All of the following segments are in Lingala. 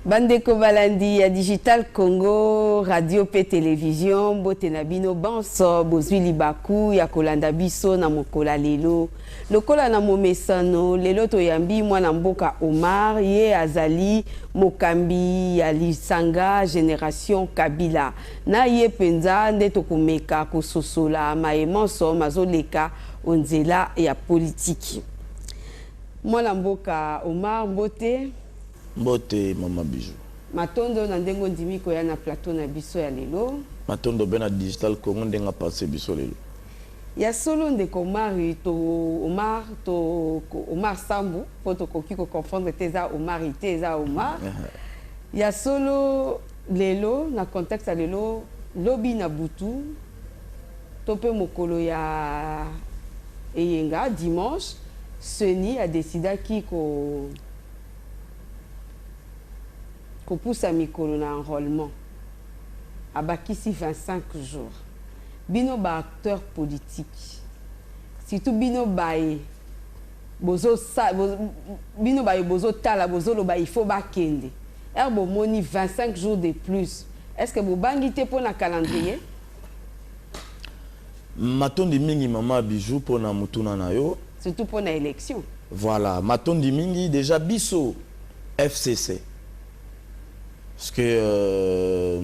Bandeko balandi ya Digital Congo radio pe television, mbote na bino banso bozwi libaku ya kolanda biso na mokola lelo. Lokola na momesano, lelo toyambi mwana mboka Omar, ye azali mokambi ya lisanga Generation Kabila. Na ye mpenza nde tokomeka kososola maye manso mazoleka o nzela ya politiki. Mwana mboka Omar, mbote. Mbote maman Bijoux. Matondo na ndenge ondimi koya na plateau na biso ya lelo. Matondo pe na Digital Congo ndenge a panse biso lelo. Ya solo ndeko Omari to Omar to Omar Sambu po tokoki ko comprendre te eza Omari te eza Omar. Ya solo lelo na contexte ya lelo lobi na butu to pe mokolo ya eyenga dimanche Ceni a decidaki ko Kopusa mikolo na enrolement. Abakisi 25 jours. Bino ba acteurs politiques, surtout bino baye bozo sa, bo, bino baye bozo tala bozo loba il faut bakende. Heure bomoni 25 jours de plus, est-ce que bobangi te pona calendrier? Matondi mingi maman Bijou pona motuna na yo. Surtout pona election. Voilà, matondi mingi deja biso FCC. Parce que euh,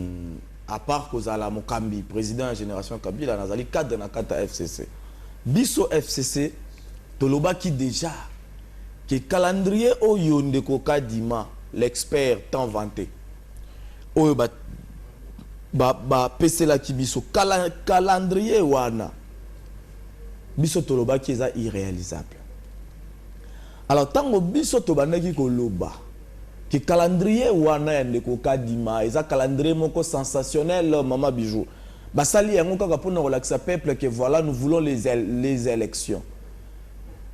à part kozala mokambi président ya génération Kabila nazali cadre na kati ya FCC. Biso FCC tolobaki deja que calendrier oyo ndeko Kadima l'expert tant vanté oyo ba ba ba peselaki biso kala calendrier wana biso tolobaki eza irrealisable alors tango biso tobandaki koloba que calendrier wana ya ndeko kadima eza calendrier moko sensationnel euh, mama bijou basali yango kaka mpona kolakisa peuple que voilà nous voulons les, les élections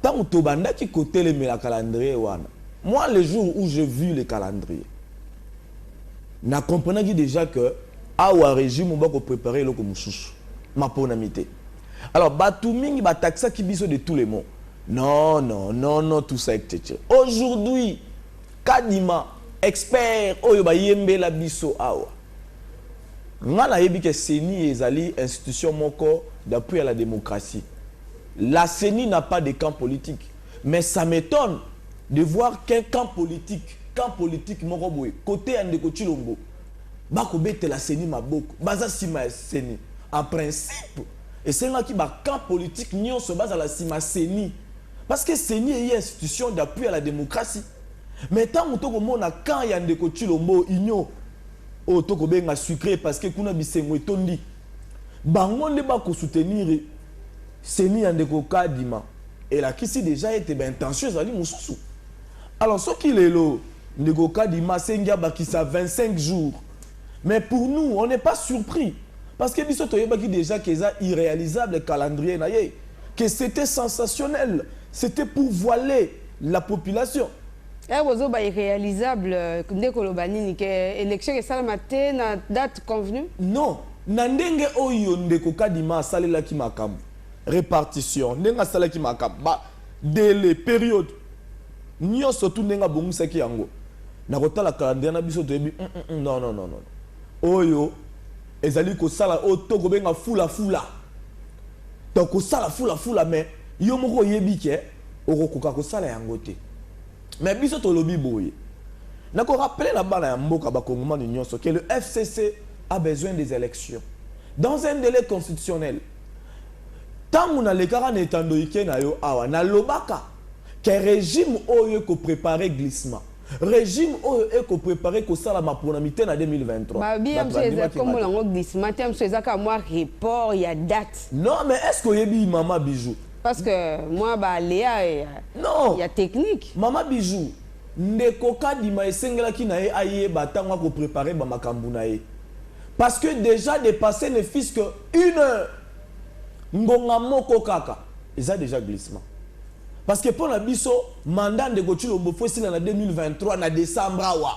ntango tobandaki kotelemela calendrier wana moi le jour où je vu le calendrier Na comprenaki dejà que awa regime ba ko preparer eloko mosusu. Maponami te. Alors batu mingi ba taxaki biso de tous les mots. Non, non, non, non, tout ça etc. Aujourd'hui, Kadima, expert oyo ba yembela biso awa, nga na yebi que ceni ezali institution moko d'appui à la democratie. La ceni n'a pas de camp politique. Mais ça m'etonne de voir qu'un camp politique, camp politique moko boye cote ya ndeko Tshilombo ba ko betela ceni maboko, baza sima ya ceni. En principe esengaki ba camps politiques nionso bazala sima ceni parce que ceni eye institution d'appui ya la democratie. Mais tango to ko mona camp ya ndeko Tshilombo, union oyo to ko benga sucree parce que kuna bisengo etondi, bango nde ba ko soutenir Ceni ya ndeko Kadima elakisi dejà ete ba intentions ezali mosusu. Alors soki lelo ndeko Kadima asengi abakisa 25 jours, mais pour nous on n'est pas surpris parce que biso toyebaki dejà que eza irrealisable calendrier na ye, que c'etait sensationnel, c'etait pour voiler la population. Ehh bozoba irrealisable nde koloba nini que election esalama te na date convenu? Non na ndenge oyo ndeko Kadima asalelaki makambo, repartition, ndenge asalaki makambo, ba delais, periode, nionso tout ndenge abongisaki yango na kotala calendrier na biso toyebi humm non non non non oyo ezali kosala oyo to kobenga fula fula donc kosala fula fula mais yo moko oyebi que Okokoka kosala yango te. Mais biso tolobi boye. Nako rappeler na bana ya mboka ba kongomani nyoso que le FCC a besoin des elections dans un delai constitutionnel. Tango nalekaka na etando ike na yo awa, nalobaka que regime oyo eko preparer glissement. Regime oyo eko preparer kosala maponami te na 2023. Balobi ya mosusu eza kombo nango glissement te, ya mosusu eza kaka mua report ya date. Non mais est-ce que oyebi mama Bijoux? Parce que moi ba Léa et euh, non. il y a technique. Maman Bijou, ndeko Kadima esengelaki na ye ayeba tango ako préparer ba makambu na ye. Parce que déjà dépasser ne fils que une heure. Ngonga moko kaka eza déjà glissement. Parce que pona biso mandat ndeko Chilombo faut sila na 2023 na décembre awa.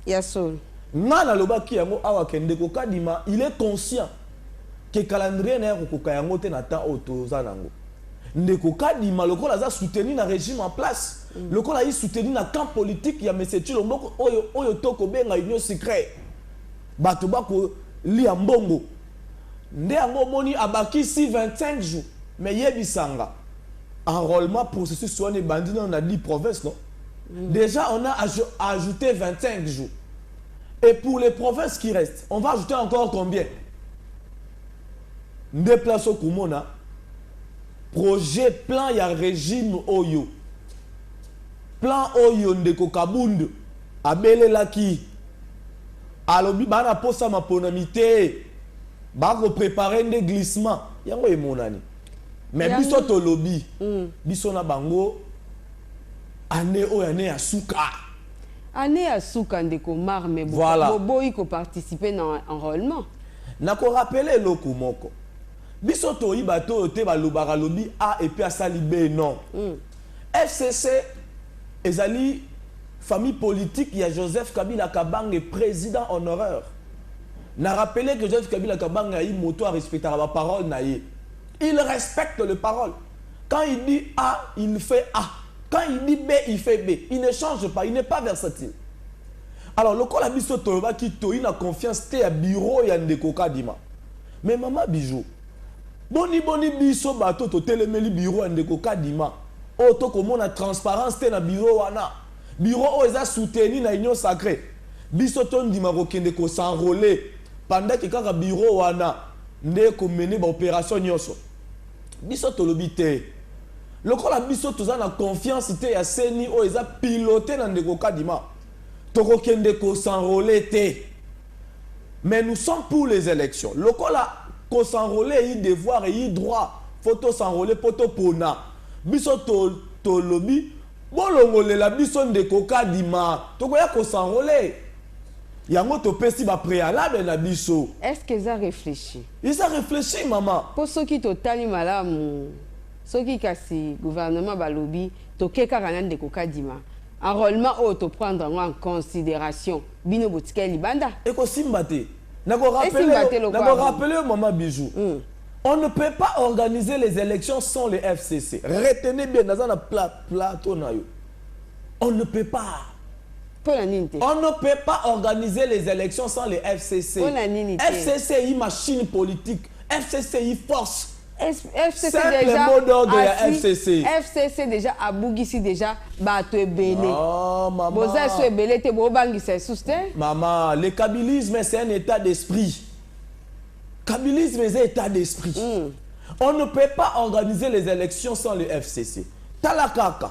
Ya solo. Nga nalobaki yango awa ke ndeko Kadima, il est conscient que calendrier naye akokoka yango te na temps oyo toza nango. Ndeko Kadima lokola aza soutenu na regime en place, mm. lokola ayi soutenu na camp politique ya Monsieur Chilomboko oyo oyo toko benga union secret. Bato bako lia mbongo. Nde yango omoni abakisi 25 jours. Mais yebisanga enrôlement processus wana ebandi nano na 10 provinces non? Mm. Déjà on a ajouté 25 jours. Et pour les provinces qui restent, on va ajouter encore combien Nde place au Kumona, projet, plan, il y a régime Oyo. Plan Oyo ndeko Kabund, abele laki. Alobi bana posa mapona mite, bako préparer nde glissement. Yango e monani. Mais Yango... biso to lobi, mm. biso na bango, année Oyo année ya suka. Annee ya suka ndeko Mar mais Voilà. bo boyi ko participer na enrolement. Na ko rappeler eloko moko. Biso toyi bato oyo te balobaka alobi A et puis asali B non. FCC ezali famille politique ya Joseph Kabila Kabange president honoraire. Na rappeler que Joseph Kabila Kabange ayi moto a respectaka ba paroles na ye. Il respecte les paroles. quand il dit A il ne fait A quand il dit B il fait B il ne change pas il n'est pas versatile alors lokola biso tolobaki toyi na confiance te ya bureau ya ndeko Kadima mais maman Bijou boni boni biso bato totelemeli bureau ya ndeko Kadima oyo tokomona transparence te na bureau wana bureau oyo eza soutenu na union sacree biso tondima kokende ko s'enroler pendant que kaka bureau wana nde ekomene ba operation nionso Biso tolobi te. Lokola biso toza na confiance te ya ceni oyo eza piloter na ndeko Kadima, toko kende ko s'enroler te. Mais nous sommes pour les elections. Lokola ko s'enroler eyi devoir eyi droit, faut to s'enroler mpo to pona. Biso to tolobi bolongolela biso ndeko Kadima, tokoya ko s'enroler. Yango topesi ba prealables na biso. Est-ce que eza reflechi? Eza reflechi maman. Po soki to tali malamu soki kasi gouvernement ba lobi toke kaka na ndeko kadima enrolement oyo to prendre yango en consideration bino bo tikali libanda? Eko simba te. Na ko rappeler yo, na ko rappeler yo maman Bijoux. On ne peut pas organiser les elections sans le FCC. Retenez bien, naza na plateau na yo. On ne peut pas. Pona nini te? On ne peut pas organiser les elections sans le FCC. Pona nini te? FCC yi machine politique. FCC yi force. FCC Simple déjà mot d'ordre ya asi- FCC. FCC déjà abugisi déjà bato ebele Oh, maman. boza esu ebele te bobangisa esusu te Maman, le kabilisme, c'est un état d'esprit. Kabilisme, c'est un état d'esprit. On ne peut pas organiser les élections sans le FCC. Talakaka.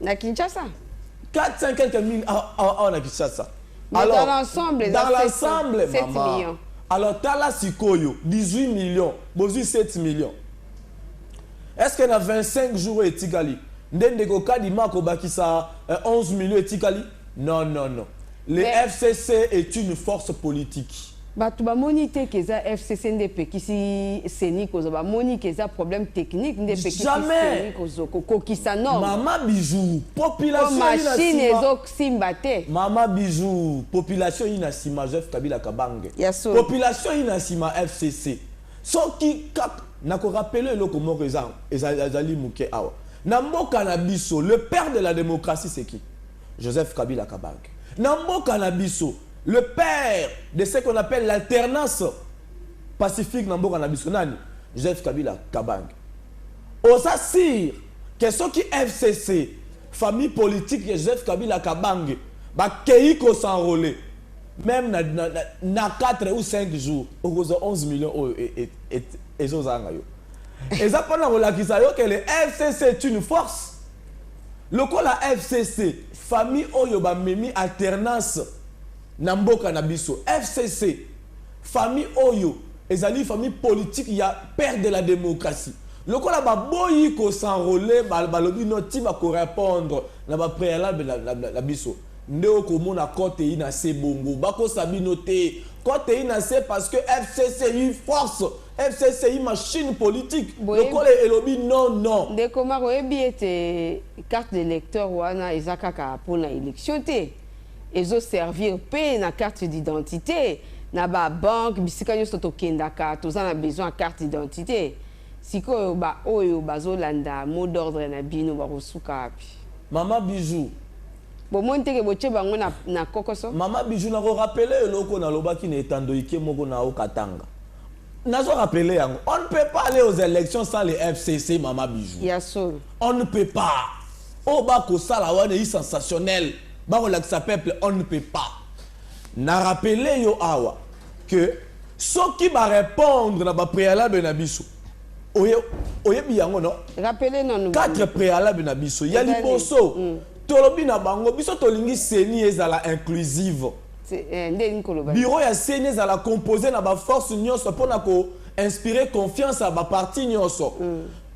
Na Kinshasa 400 quelques mille awa na Kinshasa. Alors, dans l'ensemble, dans l'ensemble, maman. Millions. Alors, tala sikoyo, 18 millions, bozui 7 millions. Est-ce que na 25 jours etikali? Ndende ko kadima ko bakisa 11 euh, millions etikali? Non non non le Mais- FCC est une force politique. Bato bamoni te que eza FCC nde epekisi CENI kozwa bamoni que eza problème technique nde epekisi Jamais. CENI kozwa kokokisa norme Mama bijou po population ina machine sima. ezosimba te Mama bijou population ina sima Joseph Kabila Kabange. Ya solo. Population ina sima FCC. Soki kaka na ko rappeler eloko moko eza eza- ezali muke awa. Na mboka na biso le père de la démocratie c'est qui? Joseph Kabila Kabange. Na mboka na biso, le père de ce qu'on appelle l'alternance pacifique na mboka na biso nani? Joseph Kabila Kabange. Oza sire que soki FCC, famille politique ya Joseph Kabila Kabange, bakeyi ko s'enrole même na, na, na, na 4 ou 5 jours okozwa 11 millions oyo e, e, e, ezozanga yo eza mpona kolakisa yo que le fcc est une force Lokola FCC famille oyo ba memi alternance na mboka na biso. FCC famille oyo ezali famille politique ya père de la democratie. Lokola ba boyi ko s'enroler ba lobi non ti ba ko repondre na ba prealable na biso nde oko mona cote ina se bongo. Ba kosa bino te cote ina se parce que FCC force. FCC i machine politique Boye- lokole elobi non non. Ndeko Marc, oyebi ete carte d'electeur wana eza kaka mpo na election te. Ezo servir mpe na carte d'identité. Na ba banque, bisika nyonso tokendaka, toza na besoin ya carte d'identité. Sikoyo ba oyo bazolanda mot d'ordre na bino bakosuka wapi? Maman Bijou, Bomoni te ke botie bango na, na kokoso? Maman Bijou nako rappeler yo eloko nalobaki na etando ike moko na Haut Katanga. Nazo rappeler yango. On ne peut pas aller aux élections sans les FCC Mama Bijou. Ya solo. On ne peut pas. Oyo oh, bakosala wana eye sensationnel. Bakolakisa peuple on ne peut pas. Na rappeler yo awa que soki ba répondre na ba préalable na biso oye oyebi yango no rappele nanu quatre préalable na biso ya liboso mm. tolobi na bango biso tolingi seni ezala inclusive Bureau ya ceni ezala compose na ba forces nionso mpo na ko inspirer confiance ya ba partis nionso.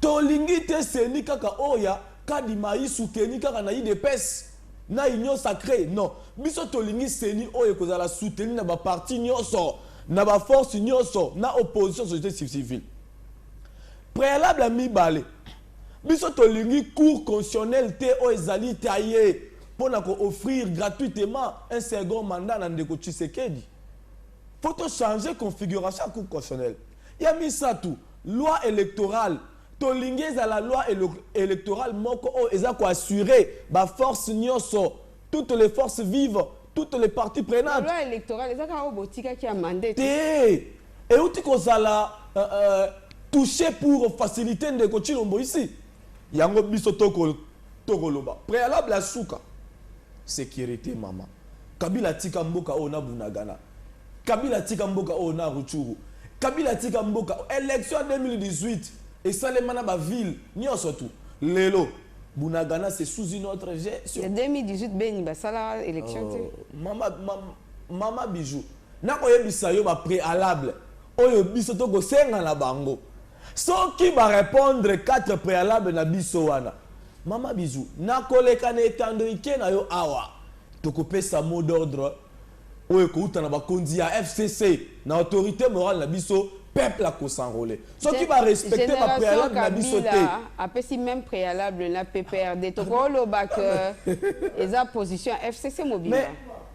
Tolingi te ceni kaka oyo ya Kadima Isu teni kaka na udps na union sacree non. Biso tolingi ceni oyo ekozala soutenu na ba partis nionso, na ba forces nionso, na opposition, societe civile. Prealable ya mibale, biso tolingi Cour constitutionnelle te oyo ezali taille. pona ko offrir gratuitement un second mandat na ndeko Tshisekedi. Faut to changer configuration ya Cour constitutionnelle. Ya misatu, loi electorale tolingi ezala loi electorale moko oyo eza ko assurer ba forces nionso, toutes les forces vives, toutes les parties prenantes. Loi electorale eza kaka oyo botikaki ya mandat. Te, euti kozala touche pour faciliter ndeko Tshilombo ici. Yango biso to ko toko loba prealable ya suka securite mama kabila atika mboka oyo na bunagana kabila atika mboka oyo na ruchuru kabila atika mboka election ya 2018 esalema na ba ville nionso tu lelo bunagana c'est sous une autre gestion ya 2018 beni basala election te oh, mama ma, mama bijou nakoyebisa yo ba prealable oyo biso tokosenga na bango Soki ba repondre quatre prealables na biso wana. Mama bisous. Nakoleka na etando ike na yo awa. Tokopesa mot d'ordre oyo ekouta na bakonzi ya fcc, na autorite morale na biso, peuple a ko s'enroler. Soki ba respecter ba prealables na biso te. Generation Kabila apesi meme prealable na PPRD. Tokoloba que eza position ya fcc mobimba.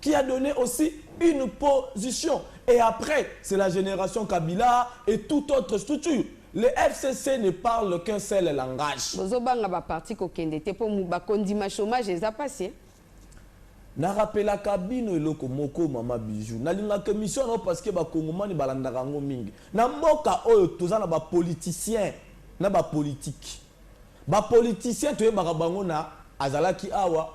qui a donne aussi une position et après c'est la generation kabila et tout autre structure le FCC ne parle qu'un seul langage. Bozo banga ba parti ko kende te po ba kondima chômage eza pasi. Eh? Na rappela kabino eloko moko mama bijou. Na linga que mission no parce que ba kongomani balandaka ngo mingi. Na mboka oyo toza na ba politiciens na ba politiques. Ba politiciens toyebaka bango na azalaki awa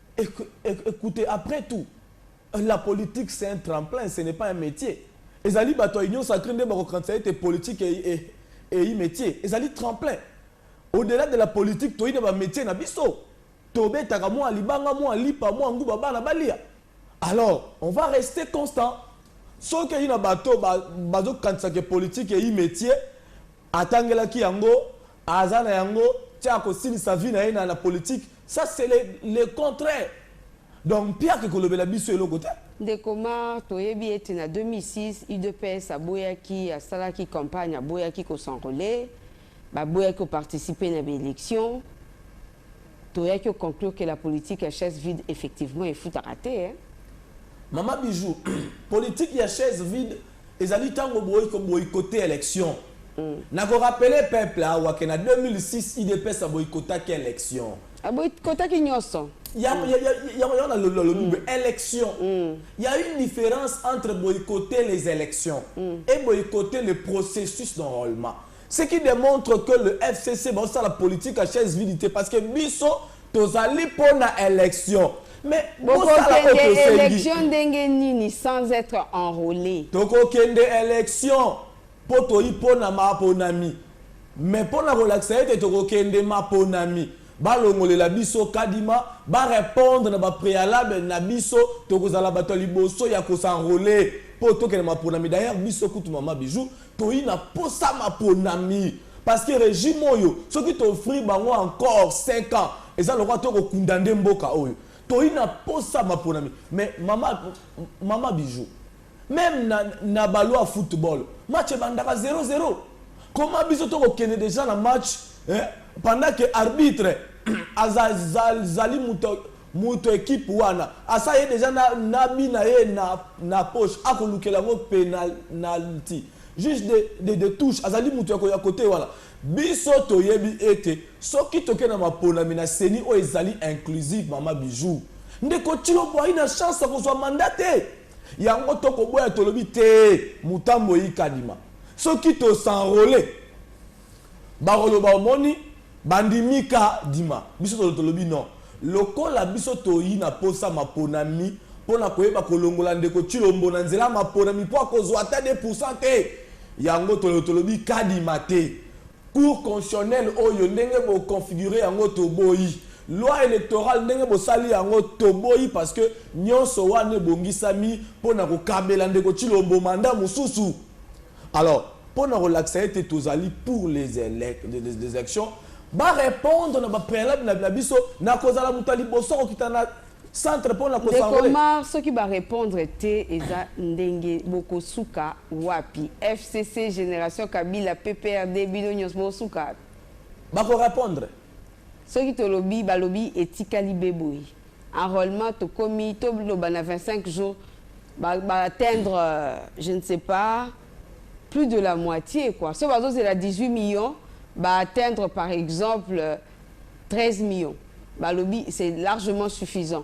Ecoutez après tout la politique c'est un tremplin ce n'est pas un metier ezali batu ya union sacree nde bako kanisa ete politique eyi metier ezali tremplin au delà de la politique toyi na ba metier na biso tobetaka mua libanga mua lipa mua nguba bana balia alors on va rester constant soki eyi na bato bazo kanisa ke politique eyi metier Atangelaki yango, aza na yango tse akosilisa vie na ye na na politique ça c'est le le contraire donc mpiaka ekolobela biso eloko te. Ndeko Marc, toyebi ete na 2006, udps aboyaki, asalaki campagne, aboyaki ko s'enroler, baboyaki ko participer na ba elections. Toyaki ko conclure que la politique ya chaise vide effectivement efutaka te hein. Mama Bijoux, politique ya chaise vide Ezali tango boyi ko boycotter election. Na ko rappeler peuple awa que na 2006 udps a boycottaki election. A boycottaki nioso. Ya ya ya ya wana na lobi lobi boye election. Il ya une difference entre boycotter les elections et boycotter le processus d'enrolement. Ce qui demontre que le FCC ba sala politique à chaise vide te parce que biso tozali pona election. Mais bosala oyo tosengi. election ndenge nini sans être enrôlé? Tokokende election po toyi pona maponami. Mais pona kolakisa ete tokokende maponami balongolela biso kadima ba répondre na ba préalable na biso tokozala bato ya liboso ya kosanrole po tokende maponami d'ailleurs biso kutu mama bijou Toyi na posa maponami parce que regime oyo soki to offrir bango encore cinq ans eza lokola to ko kundander mboka oyo. Toyi na posa maponami mais mama mama Bijoux meme na na balua ya football match ebandaka zero zero comment biso to ko kende dejà na match eh pendant que arbitre aza zali mutu Mutu ya equipe wana asi aye dejà na na but na ye na na poche ako lukela yango penalty. Juge de de de touche azali mutu yako ya cote wana. Biso toyebi ete soki toke na maponami na ceni oyo ezali inclusive mama Bijoux. Ndeko Tshilombo ayi na chance ya kozua mandat te. Yango to koboya tolobi tee Mutambwe Ikadima. Soki to s'enroler. Bakoloba omoni bandimi ka dima biso tolo tolobi non lokola biso toyi na posa maponami pona koyeba kolongola ndeko tshilombo na nzela ya maponami po akozua ata de pourcent te yango tolo tolobi kadima te cour constitutionnel oyo ndenge bo configure yango toboyi loi electoral ndenge bosali yango toboyi parce que nionso wana ebongisami pona kokabela ndeko tshilombo mandat mususu Alors pona kolakisa ete tozali pour les elections ba repondre na ba prealable na na biso na kozala moto ya liboso kokita na centre pona ko Ndeko s'enrole. Omar soki ba repondre te eza ndenge bokosuka wapi FCC, generation kabila, PPRD bino nionso bokosuka wapi? Bako repondre. Soki tolobi balobi etikali be boye enrolement tokomi to loba na 25 jours ba ba atteindre je ne sais pas plus de la moitie quoi soki bazo zela 18 millions ba atteindre par exemple 13 millions balobi c'est largement suffisant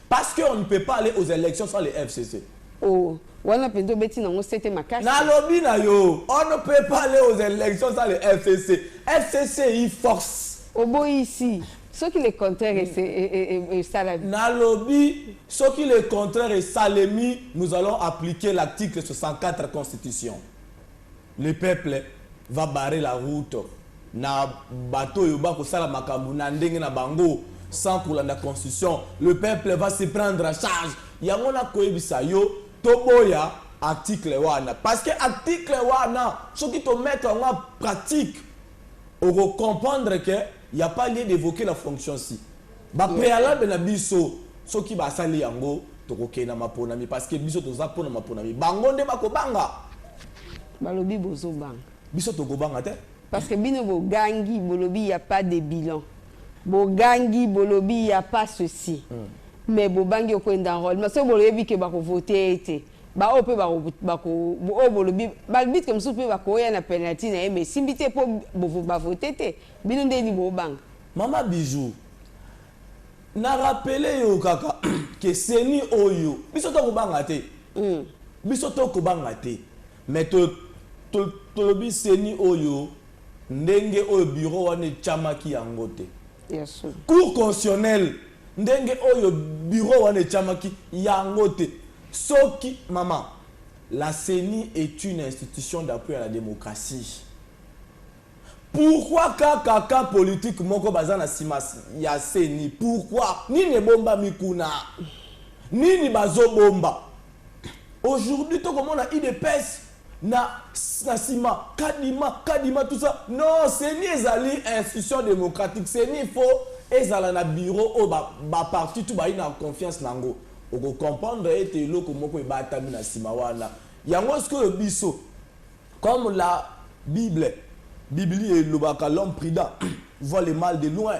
Parce que on ne peut pas aller aux elections sans le FCC. Oh, wana penza obeti nango sete makasi. Nalobi na yo, on ne peut pas aller aux elections sans le FCC. FCC i force. Oboyi ici. soki le contraire esalami nalobi soki le contraire esalemi nous allons appliquer l'article 64 constitution Le peuple va barrer la route na bato oyo ba kosala makambo na ndenge na bango sans kolanda constitution, le peuple va se prendre en charge yango na koyebisa yo toboya article wana parce que article wana soki to mettre yango en pratique oko comprendre que ya pas lieu d'evoquer la fonction si. Ba prealables na biso soki ba sali yango toko kende na maponami parce que biso toza pona maponami bango nde bako banga. Balobi bozo banga. Biso toko banga te. Parce que bino bo gangi bolobi il ya pas de bilan bo gangi bolobi il ya pas ceci mais bo bangi oko enda enrolement soki bo yebi ke bako vote ye te ba oyo pe bako bako oyo bolobi ba arbitre mosusu pe bako ya na penalty na ye mais esimbi te po ba vote te bino ndeni bo banga. Maman Bijou, na rappeler yo kaka que ceni oyo biso to ko banga te. Biso to ko banga te. Mais to tolobi ceni oyo ndenge oyo bureau wana etiamaki yango te. Cour constitutionnelle ndenge oyo bureau wana etiamaki yango te. Soki maman, la ceni est une institution d'appui à la democratie. Pourquoi kaka camp politique moko baza na sima ya ceni? Pourquoi? Nini ebombami kuna? Nini bazo bomba? Aujourd'hui to komona udps na na sima kadima kadima tout ça. Non, ceni ezali institution democratique. Ceni il faut ezala na bureau oyo ba, ba parti tout bayi na confiance nango. Oko comprendre ete eloko moko ebatami na sima wana. Yango sikoyo biso Comme la bible, Biblia, elobaka, l'homme prudent voit le mal de loin,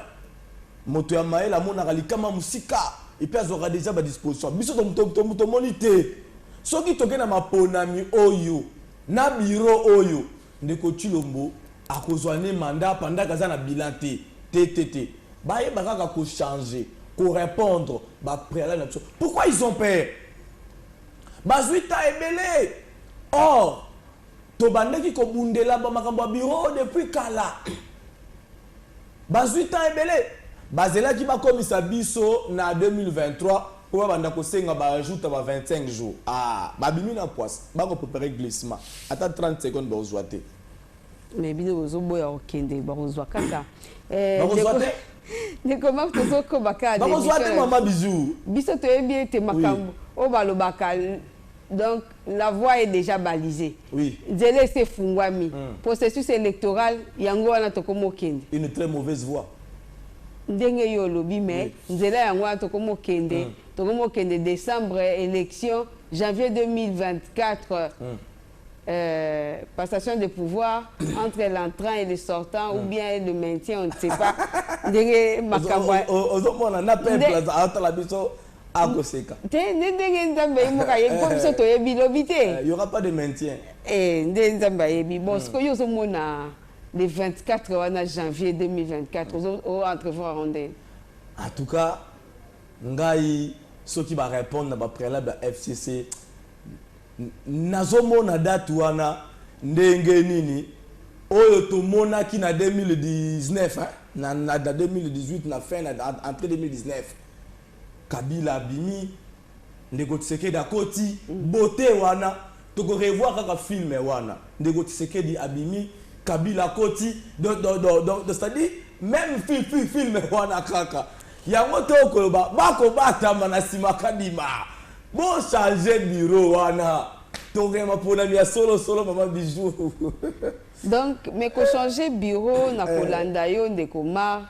moto ya mayele amonaka likama mosika et puis azwaka dejà ba dispositions. Biso tomoni te. Soki toke na maponami oyo na bureau oyo, ndeko Tshilombo akozwa ne mandat pendant que aza na bilan te. Te, te, te. Bayeba kaka ko changer, ko repondre ba prealables na biso. Pourquoi ils ont peur? Bazwi temps ebele. Or, tobandaki kobundela ba makambo ya bureau oyo depuis kala. Bazui temps ebele. Bazelaki bakomisa biso na 2023 po babanda kosenga ba ajouta ba 25 jours. Ah! Babimi na pwasa. Bako preparer glissement. Ata 30 secondes bakozua te. Mais bino bozoboya kokende, bakozua kaka. Eh, Bakozua ndeko- te? Ndeko Marc, tozokoba kaka na Bakozua te, emission. mama, bisous. Biso toyebi ete makambo oyo balobaka Donc la voie est dejà balisee. Oui. Nzela esi efungwami. Mm. Processus electoral yango wana tokomi okende. Une très mauvaise voie. Ndenge yo olobi mais oui. nzela yango wana tokomi okende. Mm. Tokomi okende décembre élection janvier 2024. Mm. Euh, passation de pouvoir entre l'entrant et le sortant mm. ou hmm. bien le maintien on ne sait pas ndenge makambo ozomona na peuple azala biso akoseka te nde ndenge nzambe ye moko ayebi mpo biso toyebi lobi te euh, y aura pas de maintien eh, nde nzambe ayebi bon hmm. sikoyo yo ozomona le 24 wana janvier 2024 hmm. o entrevoir nde en tout cas ngai soki barépondre na bapréalable ya fcc nazomona date wana ndenge nini oyo tomonaki na 2019 hein? na, na, na 2018 na fin na, entre 2019 Kabila abimi, ndeko Tshisekedi akoti, beaute wana, toko revoir kaka film wana, ndeko Tshisekedi abimi, Kabila akoti, donc donc donc donc c'est à dire meme fi fi film wana kaka, yango to koloba ba ko batama na sima Kadima, bo changer bureau wana, tokokende maponami ya solo solo maman Bijoux. Donc mais ko changer bureau na kolanda yo ndeko Marc.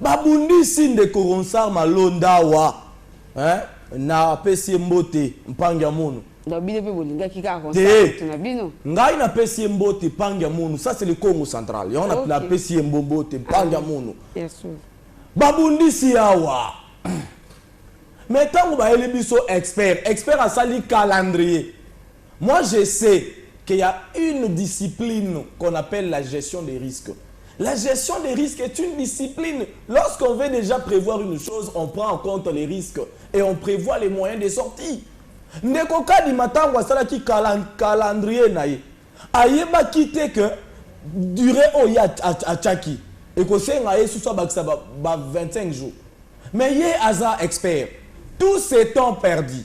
Ba bundisi ndeko Ronsard Malonda awa hein na pesi ye mbote mpangi ya mono. Donc bino pe bolingaki kaka Ronsard mutu na bino? Te ngai na pesi ye mbote mpangi ya mono ça c'est le Congo central yango okay. na pesi ye mbote mpangi ya mono. Yes. Ba bundisi awa mais tango bayeli biso expert expert asali calendrier Moi je sais que ya une discipline qu'on appelle la gestion des risques la gestion des risques est une discipline lorsqu'on veut dejà prevoir une chose on prend en compte les risques et on prevoit les moyens de sortie ndeko kadima ntango asalaki calendrier na ye ayebaki te que durée oyo ye atyaki ekosenga ye susu abakisa ba, ba 25 jours mais ye aza expert tout ce temps perdu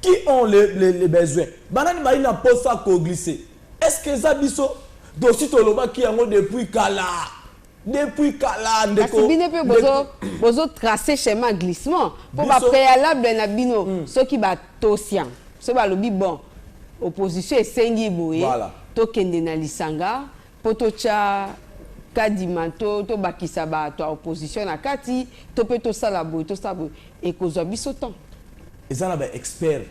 Qui ont le, le, le besoin banani bayi na posa koglise est-ce que eza biso tosi tolobaki yango depuis kala depuis kala ndeko kasi bino mpe bozo, bozo tracer chemin glissement mpo ba préalable na bino mm. soki batosi yango soki balobi bon opposition esengi boye voilà. tokende na lisanga mpo totya kadima to tobakisa bato ya opposition na kati to mpe tosala boye tosala boye ekozwa biso temps eza na baexpert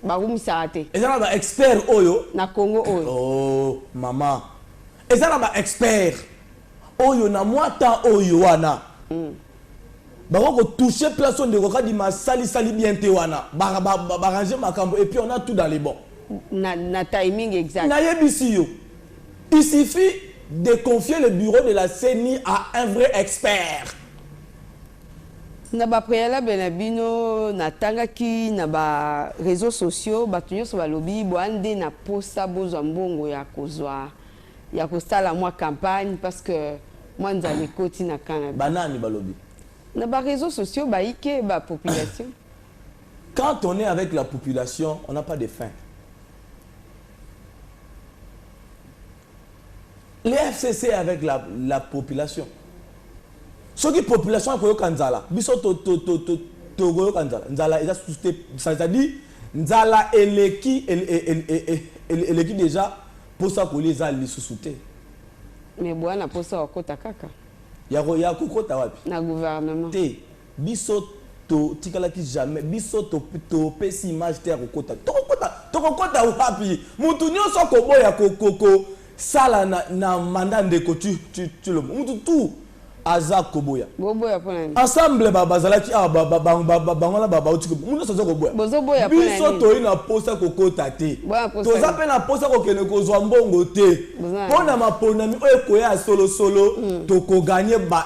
bakumisaka te eza na baexpert oyo na congo oyo oh, mama eza na baexpert oyo na mwa temps oyo wana mm. bako kotouche place oyo ndeko kadima asalisali bien te wana barange makambo et puis on a tout dans les bon na, na timing exact nayebisi yo Il suffit de confier le bureau de la ceni à un vrai expert. Na ba prealable na bino na tangaki na ba reseaux sociaux batu nionso balobi boa nde na posa bozwa mbongo ya kozwa ya kosala mwa campagne parce que mwa nzala ekoti na camp na bino. Ba nani balobi? Na ba reseaux sociaux baike ba population. Quand on est avec la population on n'a pas de fin. le fcc avec la, la population soki population akoyoka nzala biso tokoyoka nzala nzala eza susu te c'est-à-dire nzala eleki eleki deja mposa kolia eza lisusu te me bwana mposa wakota kaka ya kokota wapi na gouvernement te Biso to tikalaki jamais biso to to pesi image te ya ko kota toko kota toko kota wapi mutu nioso ako boya ko ko ko sala na na mandat ndeko tu tu tu lobo mutu tout aza ko boya Boboya pona nini? ensemble ba bazalaki awa ba ba ba ba ba bango na ba ba uti ko mutu nioso aza ko boya Bozo boya pona biso nini? toyi na posa ko kota te Boya posa toza nini? pe na posa ko kende ko zwa mbongo te Boza na pona maponami oyo ekoya ya solo solo toko gagner ba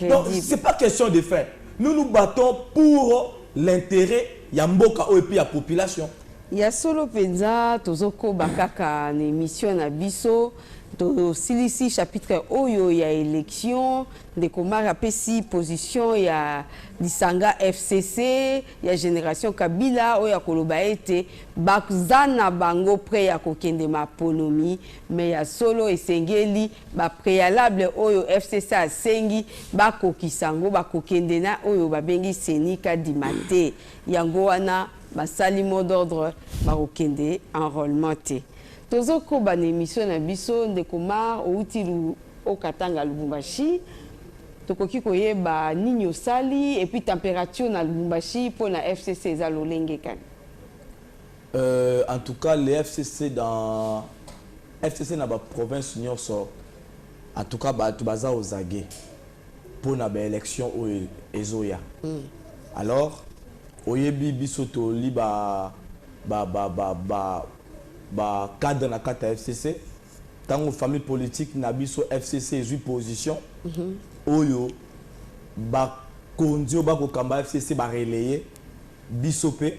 Donc Credible. c'est pas question de fin. Nous nous battons pour l'interet ya mboka oyo mpe ya population. Ya solo penza tozokoba kaka na emission na biso tosilisi chapitre oyo ya election ndeko mari apesi position ya lisanga fcc ya generation kabila oyo akoloba ete baza na bango pre ya kokende maponomi me ya solo esengeli ba prealable oyo FCC asengi bakokisa yango bakokende na oyo babengi CENI kadima te yango wana basali mot d'ordre bakokende enrôlement te tozokoba na emission na biso ndeko mar outi okatanga lubumbashi tokoki koyeba nini osali epuis temperature na lubumbashi mpo na FCC eza lolenge kani Euh, en tout cas, les FCC dans FCC na ba province nyonso en tout cas bato baza ozage mpo na baélection oyo ezoya mm. alors oyebi biso toli ba ba ba ba ba ba cadre na kati ya fcc ntango famille politique na biso fcc ezwi position mm -hmm. oyo bakonzi oyo bakokamba fcc barelaye biso mpe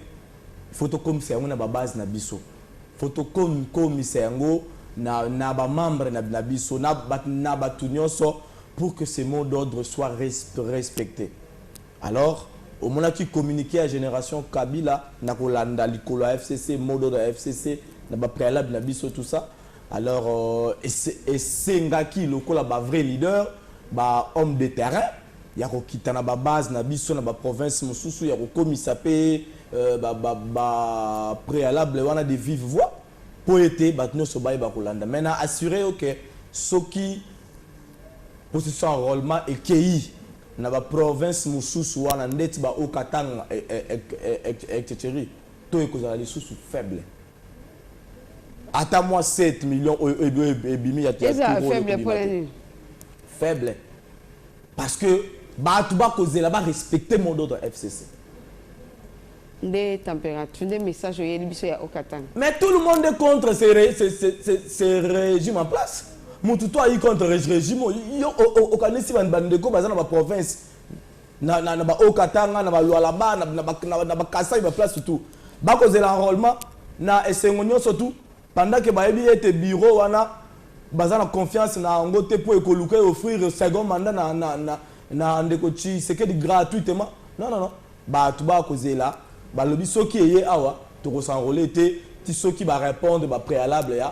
faut to komisa yango na ba base na biso faut to komisa yango na na ba membre na na biso na na batu nioso pour que ce mot d'ordre soit respecte alors omonaki communiquer ya generation kabila na kolanda likolo ya fcc mot d'ordre ya fcc na ba préalable na biso tout ça alors euh, esengaki lokola ba vrai leader ba homme de terrain ya kokita na ba base na biso na ba province mosusu ya kokomisa pe ba prealable wana de vive voix po ete batu nionso bayeba kolanda mais na assure yo que soki processus ya enrolement ekeyi na ba province mosusu wana ndeti ba Haut Katanga etcetera taux ekozala lisusu faible. ata mwa 7 million oyo ebimi ya faible faible parce que bato bakozela barespecte mot d'ordre ya fcc nde température nde message oyeli biso ya okatanga mais tout le monde est contre ce, ce, ce, ce, ce régime en place motu to ayi contre régime oyo yo okanisi bandeko baza na baprovince na na na ba haut katanga na ba lualaba na na ba na, na ba kasai ba place tout bakozela enrôlement na esengo nyonso tout pendant que bayebi ete bureau wana baza na confiance na yango te mpo ekoluka e offrir second mandat na, na, na, na ndeko tshisekedi gratuitement non non non bato bakozela balobi soki eye awa tokosanrole te ti soki barépondre bapréalable ya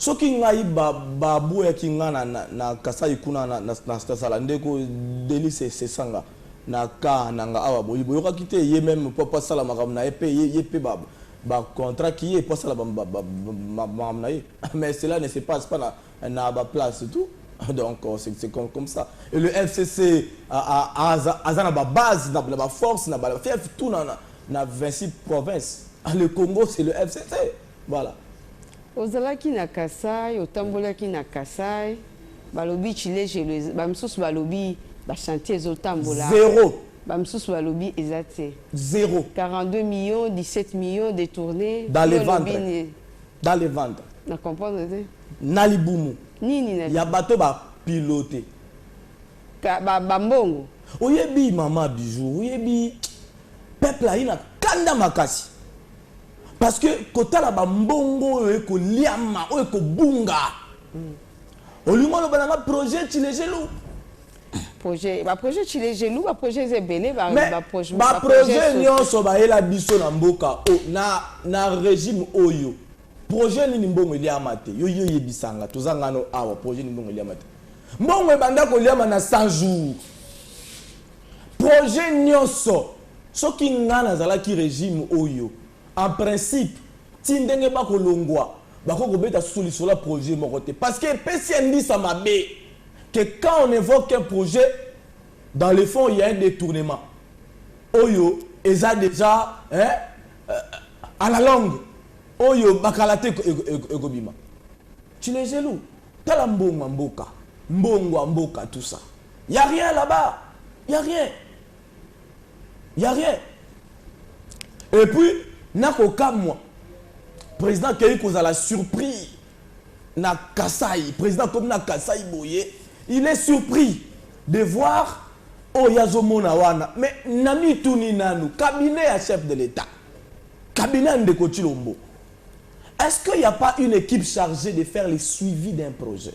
Soki ngai ba ba boyaki nga na na kasai kuna na na na zala ndeko delice sesanga na cas na nga awa boye boyokaki te ye meme po asala makambo na ye pe ye ye pe ba ba contrat ki ye po asala ba ba ba makambo na ye mais cela ne se passe pas na na ba place tout donc euh, c'est c'est comme comme ça et le FCC aza aza na ba base na ba force na ba fief tout na na 26 provinces ah, le Congo c'est le FCC Voilà. Ozalaki na Kasai, otambolaki na Kasai, balobi Tshilejelu, ba misusu balobi ba chantier ezotambola. Zero. Ba misusu balobi eza te. Zero. 42 millions, 17 millions de tournées. Dans le ventre. Dans le ventre. Na comprendre te. Na libumu. Nini na. Ya bato ba pilote. Ka ba, ba mbongo. Oyebi mama bijou, oyebi peuple ayina kanda makasi. Parce que kotala ba mbongo oyo eko liama, oyo eko bunga. Olingo oloba na nga projet Tshilejelu? Projet, ba projet Tshilejelu, ba projet ebele, ba, Mais, ba projet, ba projet nionso bayela biso na mboka, o, na, na regime oyo. Projet nini mbongo eliama te? Yo, yo yebisanga, toza ngano awa, projet nini mbongo eliama te? Mbongo ebanda koliama na 100 jours. Projet nionso soki nga nazalaki regime oyo en principe ti ndenge ba kolongua bakoki kobeta susu lisolo ya projet moko te parce que epesi indisa mabe que quand on evoque un projet dans le fond il ya un detournement oyo eza dejà hein à la longue oyo ba kala te ekobima tu les eloux tala mbongo ya mboka mbongo ya mboka tout ça. Ya rien là bas ya rien ya rien et puis nakokamwa président akeyi kozala surpris na kasai président akomi na kasai boye il est surpris de voir oyo azomona wana mais namituni nanu cabinet ya chef de l'état cabinet ya ndeko chilombo est ce qu'il n'y a pas une équipe chargée de faire le suivi d'un projet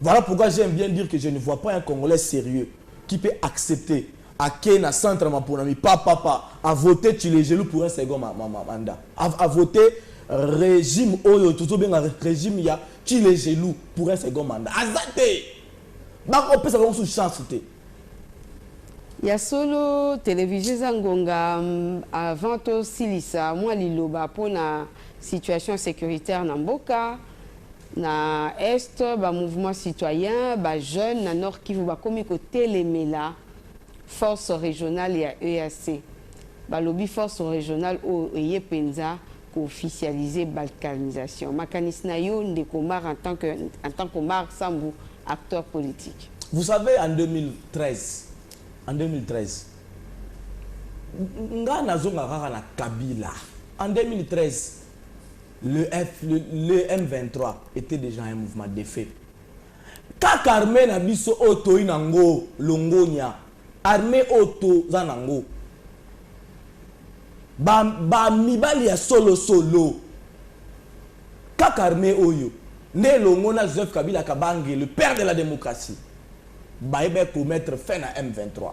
Voilà pourquoi j'aime bien dire que je ne vois pas un congolais serieux qui peut accepter à ken na centre ma ponami pa papa a voter Tshilejelu pour un second ma, ma, ma, mandat a, a voter régime oyo tuzo benga régime ya Tshilejelu pour un second mandat azate ba ko pesa bango sous chance te ya solo televizio eza ngonga mm, avant tosilisa mwa liloba mpo na situation sécuritaire na mboka Na Est, ba mouvements citoyens, ba jeunes na Nord-Kivu bakomi kotelemela force regionale ya EAC. Balobi force regionale oyo eye penza ko officialiser balkanisation. Makanisi na yo ndeko Omar en tant que en tant qu'Omar Sambu, acteur politique? Vous savez en 2013, en 2013 nga nazonga kaka na Kabila en 2013, Le M23 etait dejà un mouvement defaits. Kaka armee na biso oyo toyi na ngo longonya, armee oyo toza na ngo, ba mibali ya solo solo, kaka armee oyo nde elongo na Joseph Kabila Kabange, le père de la democratie, baye ba commettre fin na M23.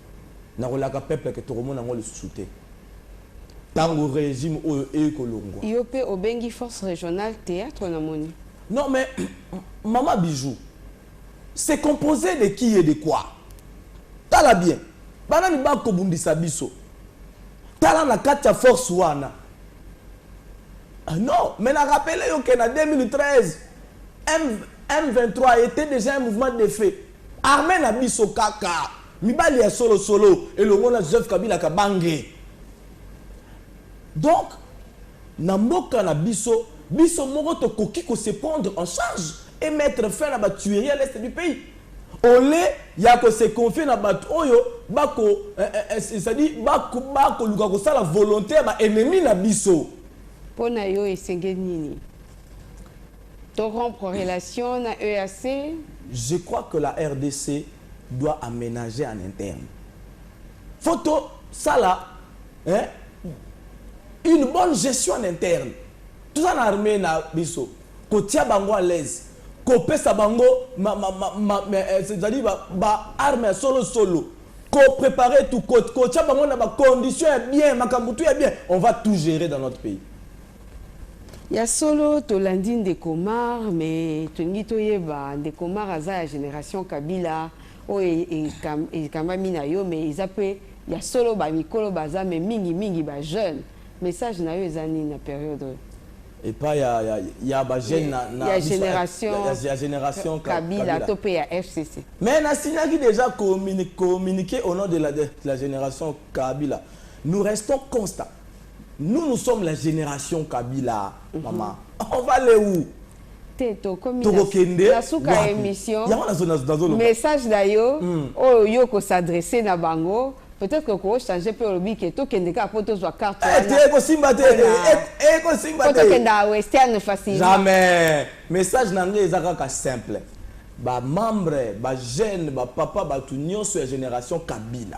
Nakolaka peuple que tokomona yango lisusu te tango regime oyo ekolongwa. Yo pe obengi force regionale theatre na moni. Non mais maman bijou c'est composee de qui et de quoi? Tala bien ba nani ba kobundisa biso? Tala na kati ya force wana Ah non, mais na rappelé yo que na 2013, M, M23 était déjà un mouvement de fait. Armee na biso kaka mibali ya solo solo elongo na Joseph Kabila Kabange. Donc na mboka na biso biso moko tokoki ko se prendre en charge et mettre fin na ba tueries à l'est du pays au lieu ya ko se confier na bato oyo bako eh, eh, eh, c'est-à-dire bako bakoluka kosala volonté ya ba ennemis na biso. Mpo na yo esengeli nini? To rompre relation na EAC. Je crois que la rdc doit amenager en interne. Faut to sala hein, une bonne gestion en interne. Toza na armée na biso. Kotia bango à l'aise. Kopesa bango ma, ma, ma, ma, ma, eh, c'est-à-dire ba, ba armes ya solo solo. Ko préparer tout, kotia bango na ba conditions ya bien, makambo tout ya bien. On va tout gérer dans notre pays. Ya solo tolandi ndeko Mar mais tolingi toyeba ndeko Mar aza ya generation Kabila oyo ekambami na yo mais eza pe ya solo ba mikolo baza mais mingi mingi ba jeune message na yo eza nini na periode oyo? epa ya ya ya ba jeune na na ya generation ya, ya generation Kabila, Kabila to pe ya FCC mais na signaki dejà communique communique au nom de la de la generation Kabila nous restons constant Nous nous sommes la generation Kabila mhm. maman on va aller où te tokomi na suka ya émission message na yo hmm. oyo yo kosadresse na bango peut-être que ko changer pe olobi ke to kende ka po to zwa carte eh, te ko simba te e eh, eh, ko simba te ko kenda western facile jamais message na ngai eza kaka simple ba membre ba jeune ba papa ba tout nyonso ya génération Kabila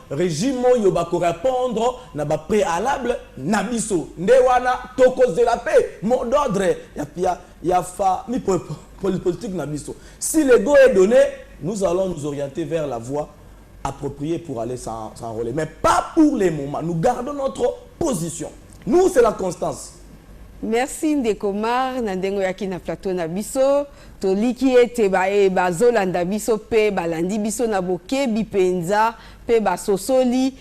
Regime oyo ba ko repondre na ba prealables na biso nde wana toko zela pe mot d'ordre ya ya fa mi politique na biso si le go est donne nous allons nous orienter vers la voie approprier pour aller s'enroler mais pas pour le moment nous gardons notre position nous c'est la constance. Merci ndeko Mar na ndenge oyaki na plateau na biso. Toliki ete baye bazolanda biso mpe balandi biso na bokebi mpenza mpe basosoli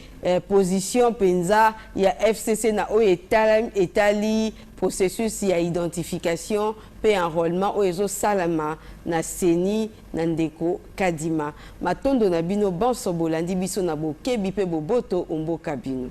position mpenza ya fcc na oyo etali processus ya identification mpe enrolement oyo ezosalama na ceni na ndeko Kadima. Matondo na bino banso bolandi biso na bokebi mpe boboto o mboka bino.